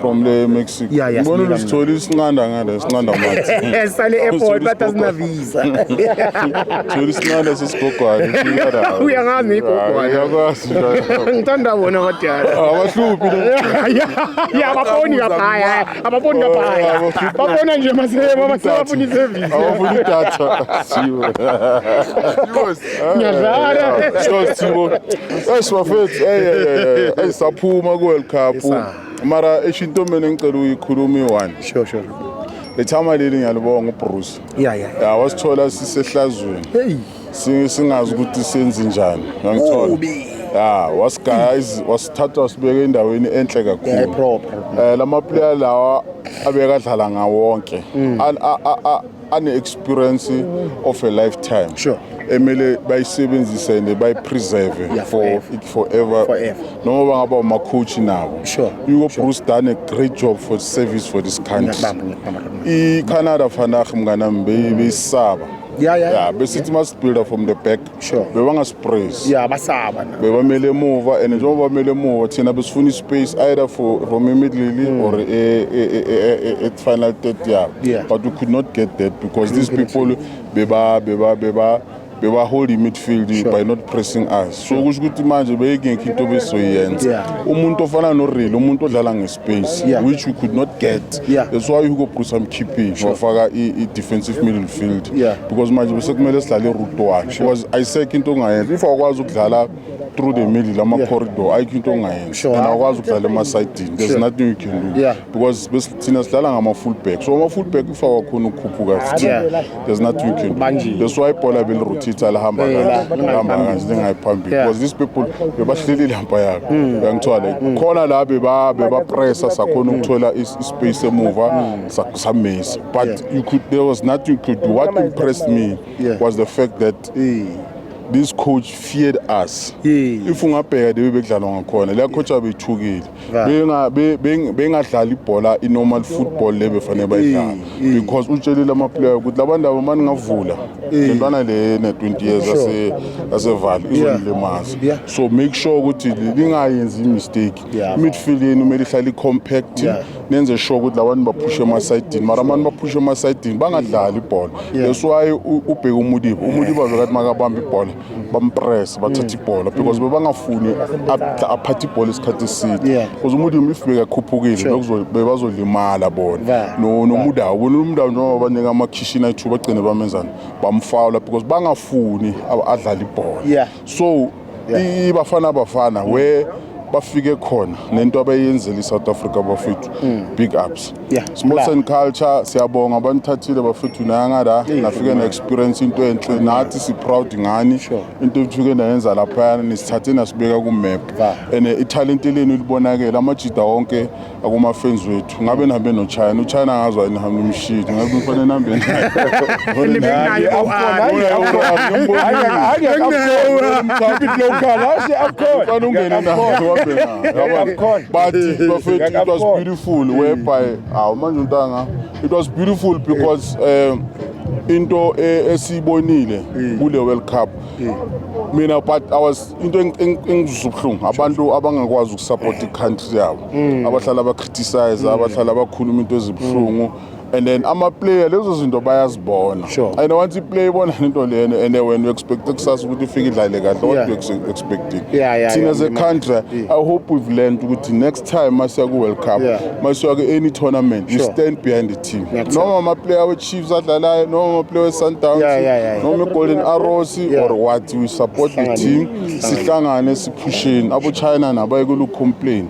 from le Mexico. Yeah, yeah, Ngibona sibuyela usithola isinqanda ngale sinqanda mathi. esale airport but asina visa Thola isinqanda sesigogwane. fika la. Uyangazi ngigogwane. Hayi, Uyakwazi. njalo. ngithanda bona abadala Abahluphi lo. ya abafoni kaphaya abafoni kaphaya Abafuni- babona nje maseba basebafuna isevisi Abafuni idatha. Siwe. Ngiyadlala. Sure Thibo. Hey sibafethu. Hey hey hey. Hey saphuma ku World Cup. Mara eshinto mina ngicela uyikhuluma i-one. Sure sure. Lethama leli ngiyalibonga uBruce. Yeah yeah. Yeah wasithola sisehlazweni. Hey. Singazi ukuthi senze njani. Ngangithola. Ubi. ya was guys wasithatha wasibeka endaweni enhle kakhulu um lama player lawa abekadlala ngawonke mm. ane-experience of a lifetime sure. emele bayisebenzise and bayipreserve yeah, for it forever, forever. noma bangaba umakhochi nabo sure. yuko sure. bruce done a great job for service for this country i-canada fanah mnganami beyisaba yeah, yeah, yeah. besithi yeah. masibuilda from the back sure bebangasipraise yeah basaba na bebamele emuva and njengoba bamele emuva thina besifuna ispace either for from immediately mm. or at final third year yeah. but we could not get that because these people beba beba beba bebahold i-midfield sure. by not pressing us so kusho ukuthi manje beyingekho into besoyenza umuntu ofana noreal umuntu odlala base yeah. which we could not get yeah. that's why Hugo Bruce amkhiphishwe yeah. wafaka i-defensive middle field yeah. because manje besekumele sidlale route one because ayisekho into ongayenza if awukwazi ukudlala through the middle ama-corridor yeah. ayikho into ongayenza sure. and awukwazi ukudlala emasayidini there's sure. nothing you can do yeah. because thina sidlala ngama-full back so ama-full back if awakhona ukukhuphuka yeah. there's nothing you can do that's why ibhola belirutitha lihamba kahle lihamba kahle lingayiphambili because these people bebahleli ilampa yakhe hmm. uyangithola like hmm. khona la bebapressa sakhona ukuthola ispace emuva hmm. samisa but you could there was nothing you could do what impressed me was the fact that this coach feared us if ungabheka de bebekudlalwa ngakhona la coach abethukile bengadlala ibhola i-normal football le befanele bayidlala because utshelile amaplayer ukuthi labantu abo mani ngavula lentwana le ne-20 years yasevale izonilimaza so make sure ukuthi lingayenzi imistake midfield yenu kumele ihlale i-compact nenze sure ukuthi labantu baphushe emasayidini mara abantu baphushe emasayidini bangadlali ibhola that's why ubheke umuliba umuliba bekathi makabamba ibhola bampress bathatha mm. ibhola because mm. bebangafuni aphathe ibhola isikhathi eside because umudium if bekakhuphukile bebazolimala bona nomudawo bona umudawo njengoba banika amakhishini ayithu bagcine bamenzani bamfawula because bangafuni adlala ibhola so ibafana bafana where bafike khona nento abayenzela i-south africa bafethu mm. big ups Yeah, sports and culture siyabonga abanithathile bafethu nanga la nafike na experience into enhle nathi si proud ngani Sure. into ebithuke nayenza lapha nisithathe nasibeka ku map Ba. and eh, italent lenu libonakele amajida wonke akuma fans wethu ngabe nihambe no China uChina ngazwa nihambe umshidi ngabe kufanele nihambe naye Nibe naye u-Ali. Ufana ungene naye uhambe naye yabona? but bafethu it was beautiful full whereby awu manje untanga it was beautiful because um into e- esiyibonile kule world cup mina but i was into eng- eng- engizwisa ubuhlungu abantu abangakwazi ukusapota i-country yabo abahlala bacriticize abahlala bakhuluma into ezibuhlungu and then amaplayer lezo zinto bayazibona sure. and once iplayer ibona into lena and wena uexpecte kusasa ukuthi ufike idlale kahle what you expecting yeah, yeah, thina yeah, ze country yeah. i hope we've learned ukuthi next time masiya ku world cup yeah. masiya ku any tournament sure. you stand behind the team That's noma amaplayer wechiefs adlalayo noma amaplayer wesundowns yeah, yeah, yeah, yeah. noma igolden arrows yeah. or what we support Sangani. the team sihlangane siphusheni abo china nabayekulu complain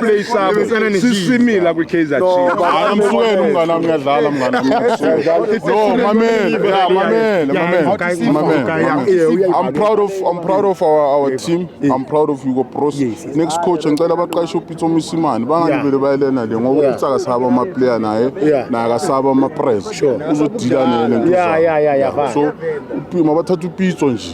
play sabo sisimila kwi Kaizer Chiefs amsukeni umngane wami uyadlala mngane wami no mamele yeah mamele mamele mamele i'm proud of i'm proud of our our team i'm proud of Hugo Bros next coach ngicela baqashe uPitso Misimani bangalibele bayelena le ngoba utsaka saba ama player naye naye akasaba ama press uzodila nele yeah yeah yeah so uPima bathatha uPitso nje